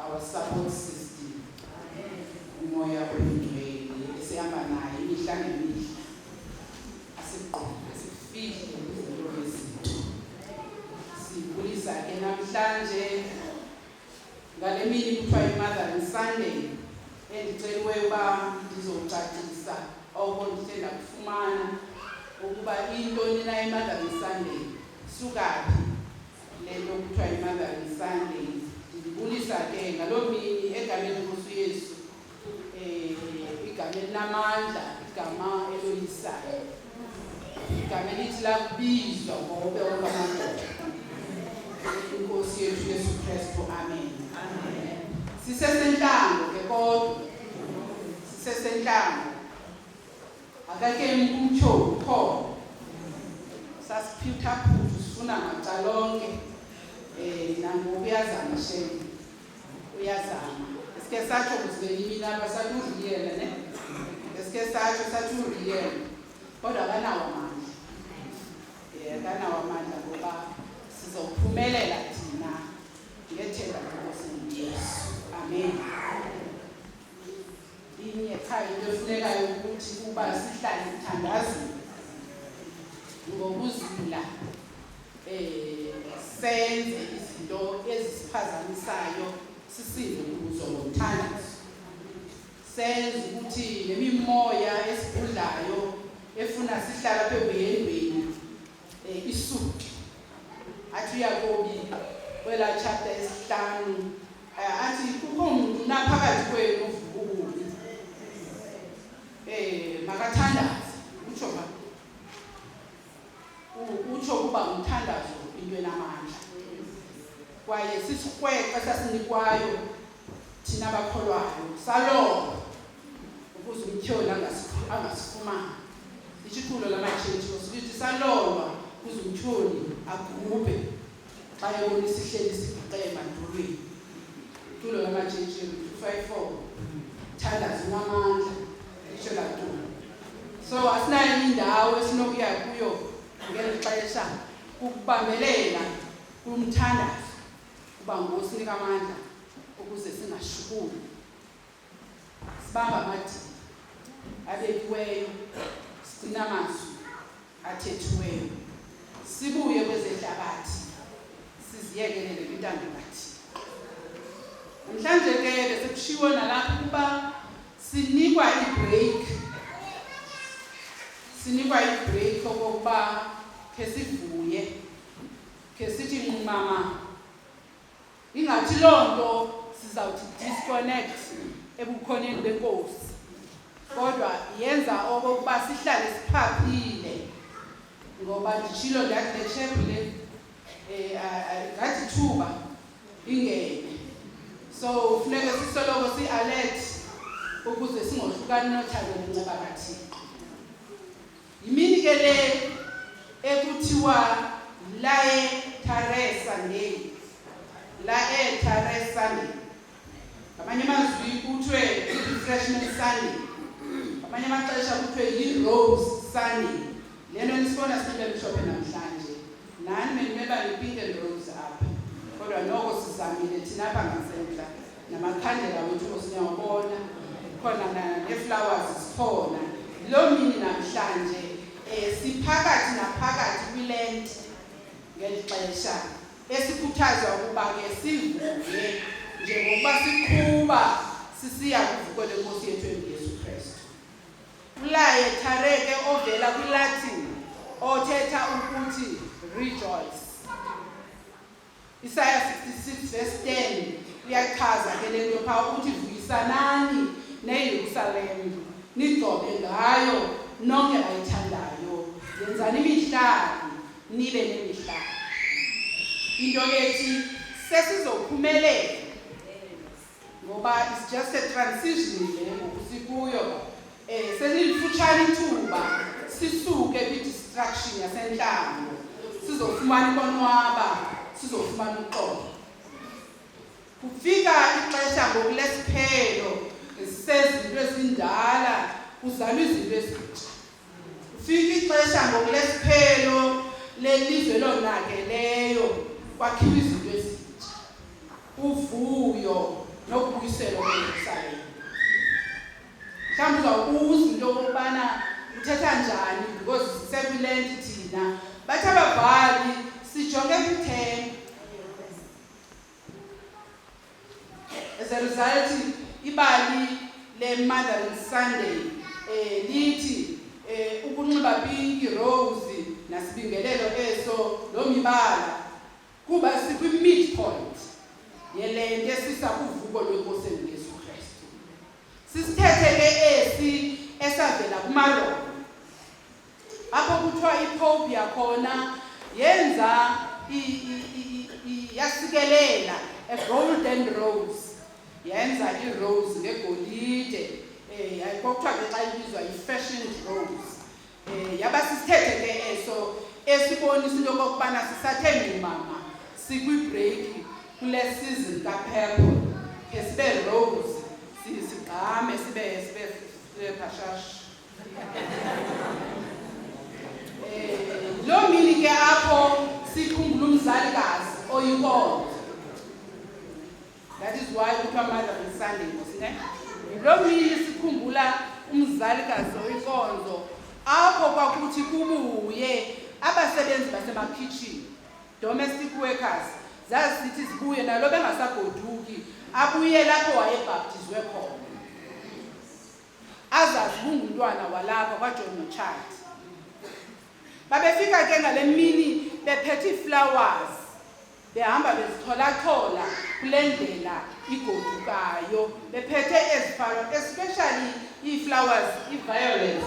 our support system umoya oyingcwele esihamba naye imihla ngemihla asigqoke sifihle izinto ezinto sibulisa ke namhlanje ngale mini kuthiwa imother and sunday endiceliweyo uba ndizocacisa oko ndithe ndakufumana ukuba intoni na imother and sunday sukaphi Le nto kuthiwa yi-Mothering Sunday. Ndibulisa ke ngaloo mini egameni lenkosi uyesu um igama elinamandla igama eloyisayo igama elithi lakubizwa ngobe okamadoda inkosi yethu yesu kristu amen sisesentlango ke kodwa sisesentlango akakeni kumtsho kho sasiphitha phuthu sifuna macalonke um eh, nangoku uyazama shem uyazama esike satsho kuzibelimini apha sathi uriyele ne esike satsho sathi uriyele kodwa akanawo amandla um akanawo amandla ngoba sizophumelela thina ngethemba lenkosi yesu amen inye qha into efunekayo ukuthi uba sihlale sithandazile ngokuzila eh senze izinto ezisiphazamisayo sisinde kuzo ngomthandazo senze ukuthi nemimoya esigudlayo efuna sihlala phezu yendweni Eh, isudu athi uyakobi kwelaa tshata esihlanu eh, athi kukho mntu naphakathi kwenu uvukukubi um eh, makathandaze utsho ba utsho ukuba ngumthandazo into enamandla kwaye sisikrweqe sasinikwayo thina bakholwayo salonga ukuze umtyholi angasifumani itshiphulo lamatshintshi sithi salonga ukuze umtyholi agubhe xa ebona isihleli sibhuqe emandulweni tulo lamatshintshi 254 thandaza unamandla isho latulo so asinayo indawo esinokuya kuyo ngeli xesha ukubambelela kumthandazo Uba Nkosi nika amandla ukuze singashukumi. Sibamba amadini abekiweyo, sigcina amazwi athethiweyo. Sibuye kwezehlabathi siziyekelele kwintando kathi. Namhlanje ke besekushiwo nalapha ukuba sinikwa ibreak sinikwa ibreak okokuba khe sivuye khe sithi nqumama ingathi loo nto sizawuthi disconnect ebukhoneni benkosi kodwa yenza okokuba sihlale siphaphile ngoba nditshilo ndathi le tshephu le um ngathi thuba ingene so funeke sisoloko si-alert ukuze singohlukani nothando nenceba kathixo Yimini ke le ekuthiwa laetare Sunday. Laetare Sunday. Ngamanye amazwi kuthiwe i-refreshment Sunday. Ngamanye amaxesha kuthiwe yi-rose Sunday. Le nto nisibona sibe mhlophe namhlanje. Nani benimeba yi-pink and rose apha. Kodwa noko sizamile thina apha ngasentla. namakhandela wethu osiniyawabona khona neflowers zikhona loo mini namhlanje um siphakathi naphakathi kwilenti ngeli xesha esikhuthazwa ukuba ke sivuke njengokuba siqhuba sisiya kuvuko lenkosi yethu enguyesu kristu ulaye thareke ovela kwilatin othetha ukuthi rejoice Isaya 66 verse 10 uyachaza ke le nto phaa ukuthi vuyisanani neyerusalem nigcobe ngayo nonke ayithandayo yenzani imihlali nibe nemihlali into ethi sesizophumelela ngoba it's just a transition le ngoku sikuyo um eh, selilifutshane ithuba sisuke kwi-distraction yasentlango sizofumana ukonwaba sizofumana uxolo kufika ixesha ngoku lesiphelo sezinto ezindala kuzalwa izinto ezintsha Fika ixesha ngokulesiphelo lelizwe elonakeleyo kwakhiwa izinto ezintsha uvuyo nokubuyiselwa kweyerusalem mhlawumbi uzawubuza into yokokubana uthetha njani because sekulent thina bathi ababhali sijonge kwithemba As a result, ibali le-Mothering Sunday eh lithi eh ukunxiba pinki rose nasibingelelo eso lo mibala kuba sikwi-midpoint yele nto esisa kuvuko lwenkosi enguyesu kristu sisithethe ke esi esavela kumaroma apho kuthiwa ipope yakhona yenza yasikelela a golden rose yenza irose ngegolide um eh, kwakuthiwa ke xa ibizwa yi-fashion rose um yaba sisithethe ke eso esibonisa into yokokubana sisathe ngumama sikwibreaki kule sizon kaphepho khe sibe rose sigqame sibe sibe sibe phashashi Loo mini ke apho sikhumbula umzalikazi oyinkonzo. That is why kuthiwa mother and Sunday ngosi ne. Loo mini sikhumbula umzalikazi oyinkonzo apho kwakuthi kubuye abasebenzi basemakhitshini domestic workers zazisithi zibuye nalo bengasagoduki abuyele apho wayebhaptizwe khona azazi kungumntwana walapha kwajohn nochati babefika ke ngale mini bephethe iiflowers behamba bezitholachola kule ndlela igodukayo bephethe ezifalo especially ii-flowers ii-violets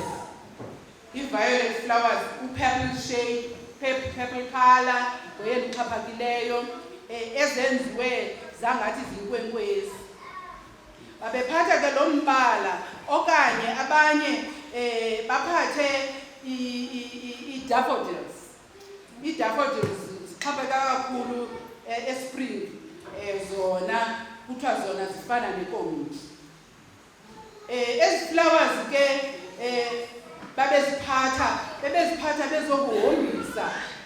ii-violet flowers u-purple shade purple color ngoye ndixhaphakileyo um ezenziwe zangathi zinkwenkwezi babephatha ke lo mbala okanye abanye um baphathe ii-daffodils ii-daffodils zixhapheka kakhulu eh, espring um zona kuthiwa zona zifana nekomiti um ezi flowers ke um babeziphatha bebeziphatha bezokuhombisa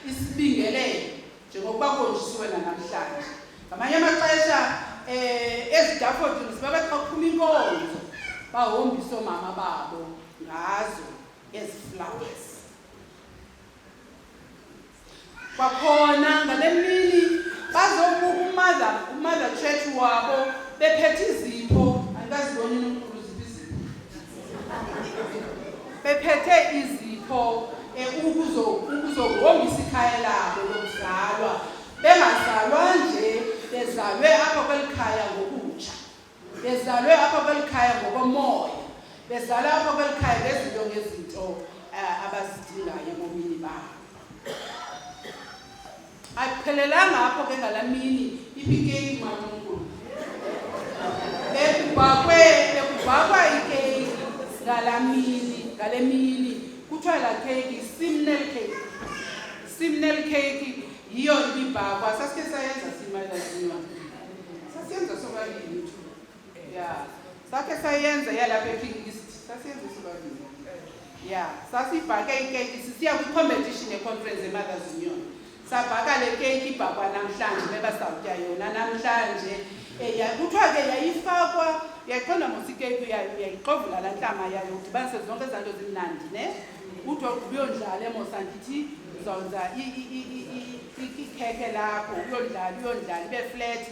isibingelelo njengokuba kuhonjisiwe nanamhlanje ngamanye amaxesha um ezidafodini ziba bathi baphuma inkonzo bahombise oomama babo ngazo ezi flowers kwakhona ngale mini bazobuka umother umother church wabo bephethe izinto andikazibonini bephethe izipho eh, ukuzohombisa ikhaya labo lokuzalwa bengazalwa nje bezalwe apha kweli khaya ngokutsha bezalwe apha kweli khaya ngokomoya bezalwe apha kweli khaya ngezinto ngezinto eh, abazidingayo ebomini babo ayiphelelanga apho ke ngalaa mini iphikeyiki malunkulu ekubhakwe ekubhakwa ikeyiki ngalaa mini ngale mini kuthiwa laa keyiki simnel keyiki simnel keyiki yiyo ibibhakwa sasike sayenza simadlaliwa sasiyenza sobabini ya sakhe sayenza yalapha eking east sasiyenza isobabini ya sasibhake ikeyiki sisiya kwicompetition yeconference yemothers union sabhaka le keyiki ibhakwa namhlanje meba sawutya yona namhlanje eh, kuthiwa ke yayifakwa yaqonda mosikeku yayo uyayixovula laa ntlama yayo udibanise zonke ezaa nto zimnandi ne uthi uyondlala emosa ndithi uzawuza ikhekhe lakho uyondlala uyondlala ibe fleti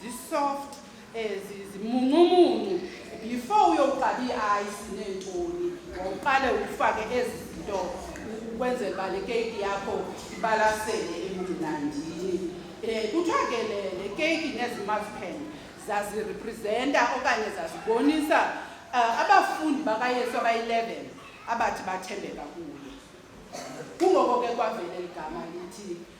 zisoft eh, zimuncumuncu before uyoqala ii-ayisi neentoni wawuqale ufake ezi zinto ukwenzela uba le keyiki yakho ibalasele emnandini um eh, kuthiwa ke le keyiki nezimazipen zazirepresenta okanye zazibonisa um abafundi bakayesu abayi-eleven abathi bathembeka kuye kungoko ke kwavele ligama lithi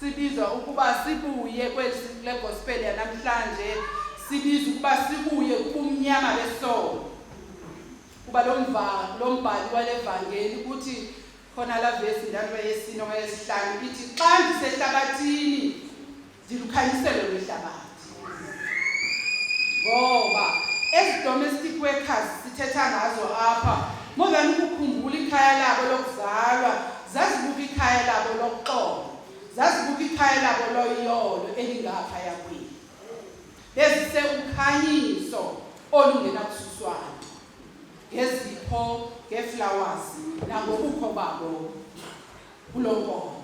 sibizwa ukuba sibuye kweli legospel yanamhlanje sibizwa ukuba sibuye kubumnyama besono kuba lo mbhali wale vangeli kuthi khona la vesi ndalo yesine okanye yesihlanu ithi xa ndisehlabathini ndilukhanyiselo lwehlabathi ngoba ezi domestic workers sithetha ngazo apha more than ukukhumbula ikhaya labo lokuzalwa zazibuka ikhaya labo lokuxolo zazibuka ikhaya labo loyolo elingapha yakwini bezise ukhanyiso olungenakususwana ngezipho ngeflowers nangobukho babo kulo nkonzo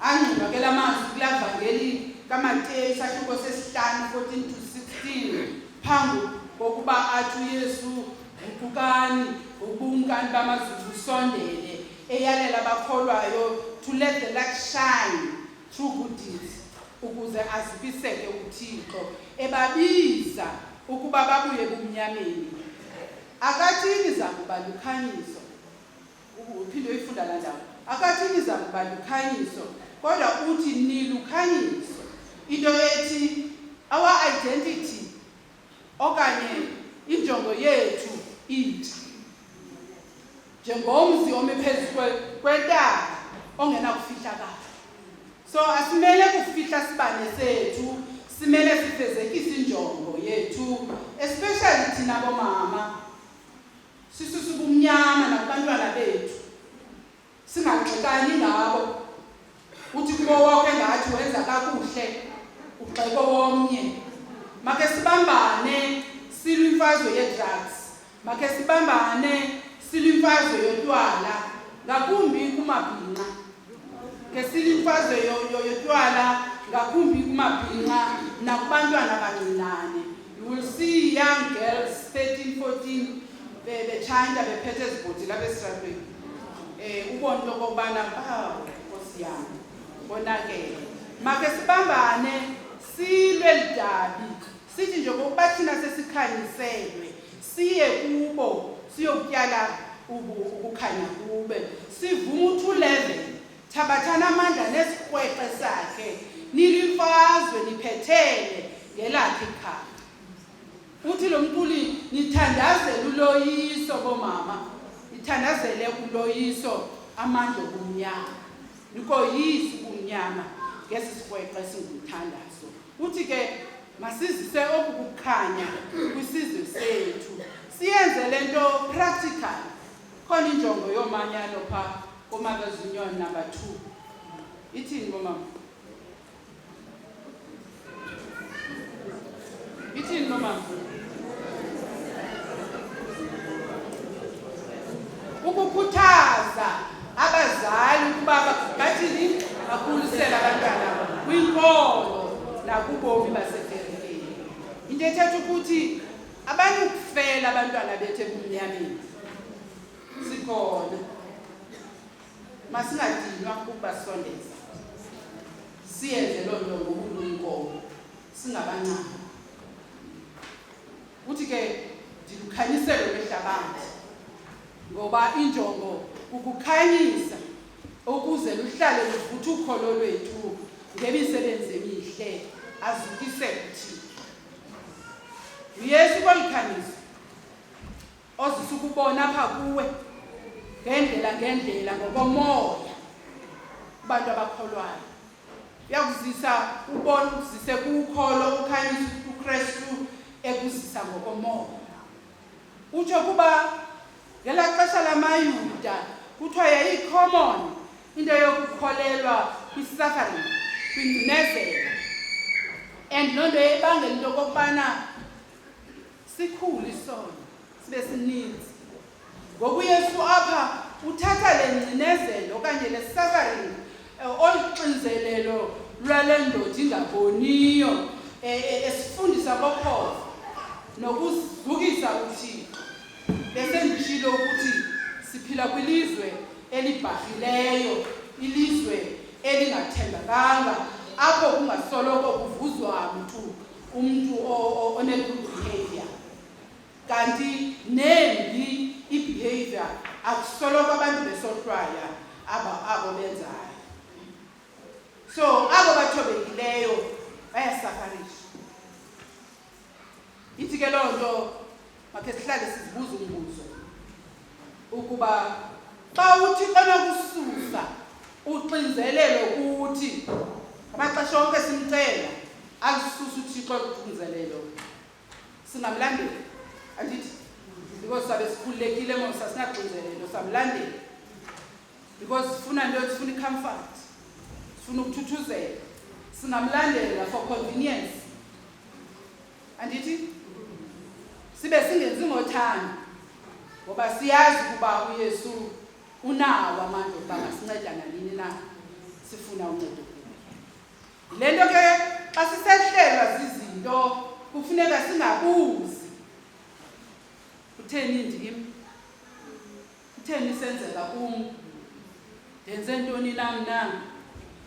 angqinwa ke la mazwi kulaa vangeli kamateyi sahluko sesihlanu 14 to 16 phambi kokuba athi uyesu guqukani ubumkani bamazulu usondele eyalela abakholwayo to let the light shine through good deeds ukuze azibiseke uthixo ebabiza ukuba babuye ebumnyameni akathini zakuba lukhanyiso uphinde uyifunda la ndawo akathi niza kuba lukhanyiso kodwa uthi nilukhanyiso into ethi our identity okanye injongo yethu intsha njengomzi ome phezu kwentaba ongenakufihlakala so asimele kufihla sibane sethu simele sifezekise injongo yethu especially thina bomama sisisubumnyama nakubantwana bethu singagxekani ngabo uthi kubo woke ngathi wenza kakuhle ugxeko womnye make sibambane silwe imfazwe yedrugs make sibambane silwe imfazwe yotywala ngakumbi kumabhinqa ngesile imfazwe yotywala ngakumbi kumabhinqa nakubantwana abancinane you will see young girls 13 14 betshanta bephethe ezibhotile apha esitratweni um eh, ubona into okokubana bawo nkosi yam konakele make sibambane silwe lidabi Sithi njengokuba thina sesikhanyiselwe siye kubo siyokutyala ukukhanya kube sivume uthi ulevel thabathani amandla nesikrweqe sakhe nilimfazwe niphethele ngelakhe ikhaya uthi lo mculi nithandazele uloyiso bomama nithandazele uloyiso amandla obumnyama nikoyisi ubumnyama ngesi sikrweqe esingumthandazo Uthi ke masizise oku kukhanya kwisizwe sethu siyenze le nto practical khona injongo yoomanyano pha komakazunyon number two ithini bomama ithini bomama ukukhuthaza abazali ukuba bathini bakhulisele abantwana kwinkolo nakubomi baseferileni into ethetha ukuthi abanukufela abantwana bethu ebumnyameni sikhona masingadinwa ukubasondeza siyenze loo nto ngokuluyinkomo singabancama Uthi ke ndilukhanyisele lwehlabathi ngoba injongo kukukhanyisa ukuze luhlale luvutha ukholo lwethu ngemisebenzi emihle azukise kuthina uyesu kwalikhanyisa ozisa ukubona apha kuwe ngendlela ngendlela ngokomoya abantu abakholwayo uyakuzisa ubona ukuzise kukholo ukhanyisa ukristu ekuzisa ngokomoya utsho kuba ngelaa xesha lamayuda kuthiwa yayicommon into yokukholelwa kwi-suffering kwingcinezelo and loo nto yayibangela into okokubana Sikhulu isono sibe sininzi. Ngoku uYesu apha uthatha le ngcinezelo okanye le suffering eh, olu xinzelelo lwale ndoda ingaboniyo eh, eh, esifundisa kokhofa nokuzukisa uthixo besendishilo ukuthi siphila kwilizwe elibhahileyo ilizwe elingathembakanga apho kungasoloko kuvuzwa mntu umntu one-good behavior kanti nembi i-behavior akusoloko abantu besohlwaya aba abo benzayo so abo bathobekileyo bayasafarisha ithi ke loo nto makhe sihlale sizibuza umbuzo ukuba xa uthi xanokususa uxinzelelo kuthi amaxesha onke simcela alisusa uthixo oluxinzelelo singamlandeli andithi because sabe sikhululekile mosa sinaxinzelelo samlandeli because sifuna nto sifuna icomfort sifuna ukuthuthuzela singamlandela for convenience andithi sibe singenzi ngothando ngoba siyazi ukuba uyesu unawo amandla okuba masinceda nanini na sifuna uncedo kuye le nto ke xa sisehlelwa zizinto kufuneka singabuzi kutheni ndim Kutheni isenzeka kum? Ndenze ntoni na mna?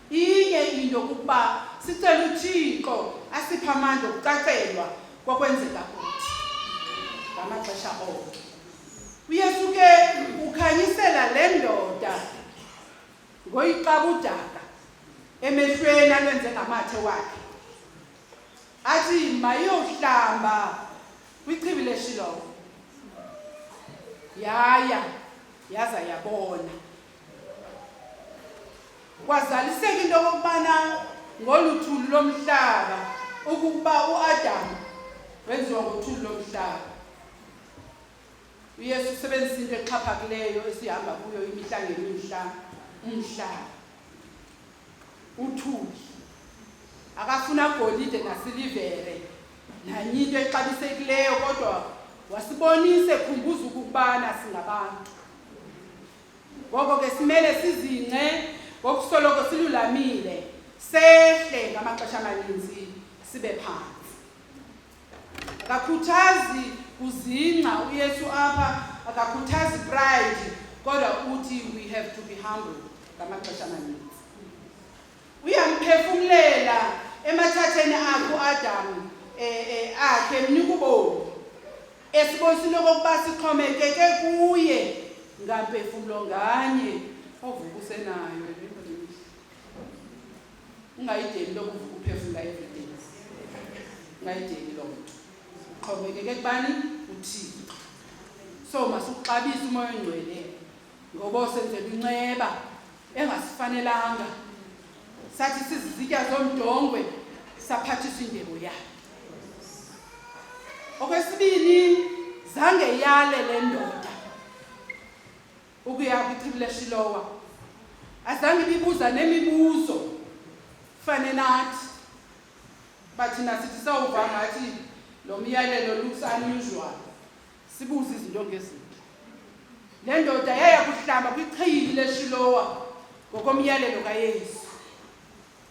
Inye into kukuba sicela uThixo asiphe amandla okucacelwa kwakwenzeka kuthi ngamaxesha onke. UYesu ke ukhanyisela le ndoda ngoyiqabudaka emehlweni alwenze ngamathe wakhe athi mayohlamba kwichibi leshilovo yaya yaza yabona kwazaliseka into okokubana ngolu thulu lomhlaba ukuba uadamu wenziwa ngothulu lomhlaba uyesu usebenzisa into exhaphakileyo esihamba kuyo imihla ngemihla umhlaba uthuli akafuna golide nasilivere nanye into exabisekileyo kodwa wasibonise khumbuza ukubana singabantu ngoko ke simele sizingce ngokusoloko silulamile sehle ngamaxesha amaninzi sibe phantsi akakhuthazi kuzingca uyesu apha akakhuthazi pride kodwa uthi we have to be humble ngamaxesha amaninzi uyamphefumlela emathatheni akhe uadam um eh, eh, akhe mnika ubomi esibonisa okokuba sixhomekeke kuye ngampefumlo nganye ovuka usenayo ungayideli lokuvuka uphefumla everyday ungayideli loo nto uxhomekeke kubani uthixo so masukuxabise umoya ongcwele ngoba osenzela inceba engasifanelanga sathi sizizitya zomdongwe saphathiswa indebo yakhe okwesibini zange yale le ndoda ukuya kwitribula shilowa azange ibibuza nemibuzo fane nathi bathi nasithi sawuva ngathi lo myalelo looks unusual sibuze izinto ngezinto le ndoda yaya kuhlamba kwichiyili leshilowa ngokomyalelo kayesu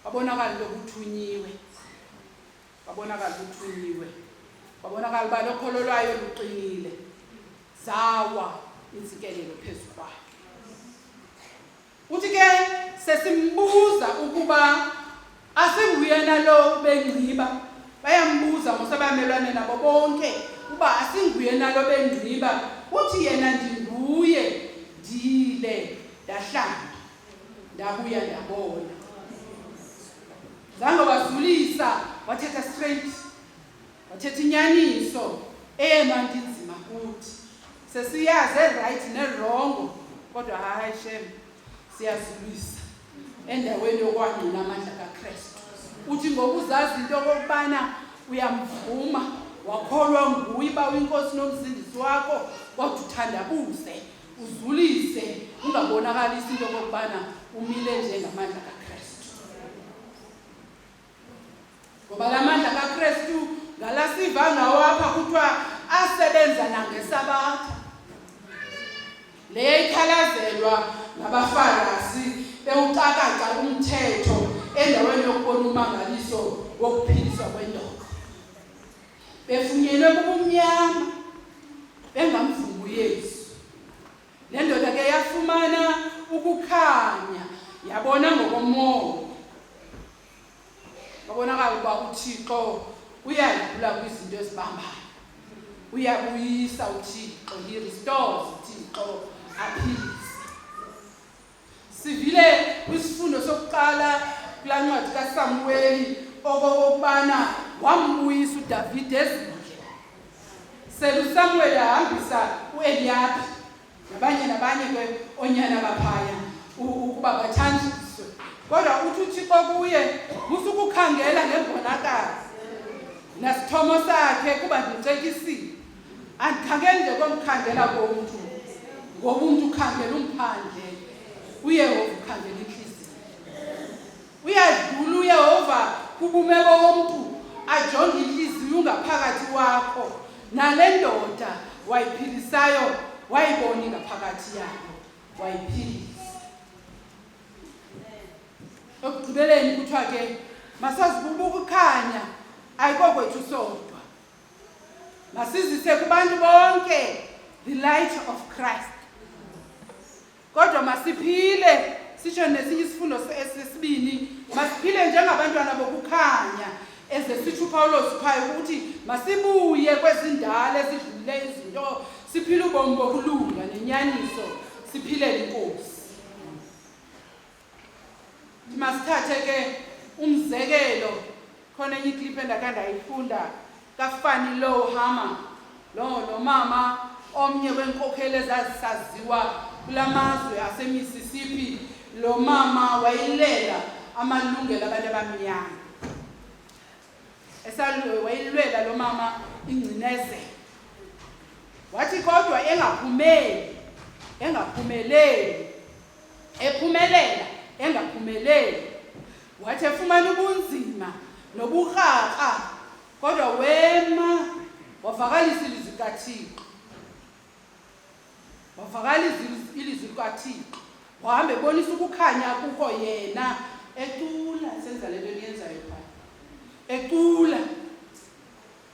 wabonakala lokuthunyiwe babonakala uqiniwe babonakala uba lokholo lwayo luqinile zawa intsikelelo phezu kwayo uthi ke sesimbuza ukuba asinguyena lo bengciba bayambuza ngosebamelwane nabo bonke uba asinguyena lo bengciba uthi yena ndinguye ndile ndahlamba ndabuya ndabona zange wazulisa wathetha straight wathetha inyaniso eyema nto inzima kuthi sesiyazi erayithi nerongo kodwa hayi shem siyazulisa endaweni yokwangqina amandla kakristu uthi ngokuzazi into okokubana uyamvuma wakholwa nguye uba uyinkosi nomzindisi wakho wathi uthandabuze uzulise ungabonakalisi into okokubana umile njengamandla kakristu ngoba la mandla kakristu ngala siva ngawo apha kuthiwa asebenza nangesabatha le ikhalazelwa ngabafarasi bewucakaca umthetho endaweni yokubona umangaliso wokuphiliswa kwendoda befunyenwe kubumnyama bengamvumi uyesu le ndoda ke yafumana ukukhanya yabona ngokomoya babonakala ukuba uthixo uyadlula kwizinto ezibambayo uyabuyisa uthixo he restores uthixo aphilise Sivile kwisifundo sokuqala kulaa ncwadi kaSamuweli okokokubana wambuyisa uDavide ezindle. SeluSamuweli ahambisa uEliyaphi nabanye nabanye ke onyana baphaya ukuba bathanjiswe. Kodwa uthi uThixo kuye musukukhangela ngebonakala nasithomo sakhe kuba ndicekisile. andikhangeli nje komkhangela komntu ngoba umntu ukhangela umphandle uyehova ukhangela intliziyo uyadlula uyehova kubumeko womntu ajonge intliziyo ungaphakathi wakho nale ndoda wayiphilisayo wayibona ingaphakathi yayo wayiphilisa ekugqibeleni kuthiwa ke masazibubuka ukhanya ayikokwethu sodwa masizise kubantu bonke the light of christ kodwa masiphile sisho nesinye isifundo sesibini masiphile njengabantwana bokukhanya eze sitsho upawulos phaya ukuthi masibuye kwezindala ezidlulile izinto siphile ubomi bokulunga nenyaniso siphilele inkosi masithathe ke umzekelo khona enye ikliphu endakhe ndayifunda kafani low hama lo lo mama omnye wenkokheli ezazisaziwa kula mazwe asemississippi lo mama wayilela amalungelo abantu abamnyama wayilwela lo mama ingcinezelo wathi kodwa engaphumeli engaphumeleli ephumelela engaphumeleli wathi efumana ubunzima noburharha kodwa wema wavakalisa ilizwi likathixo wavakalisa ilizwi likathixo wahamba ebonisa ukukhanya kuko yena ecula senza le nto niyenzayo phaa ecula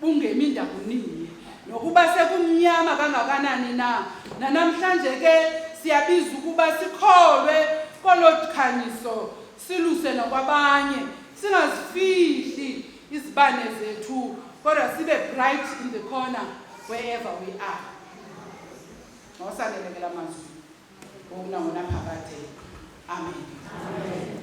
bungemi ndakunini nokuba sekumnyama kangakanani na nanamhlanje ke siyabiza ukuba sikholwe kolo dikhanyiso siluse nokwabanye singazifihli izibane zethu kodwa sibe bright in the corner wherever we are mawasalelekela mazwi ngokunangona phakade amen, amen.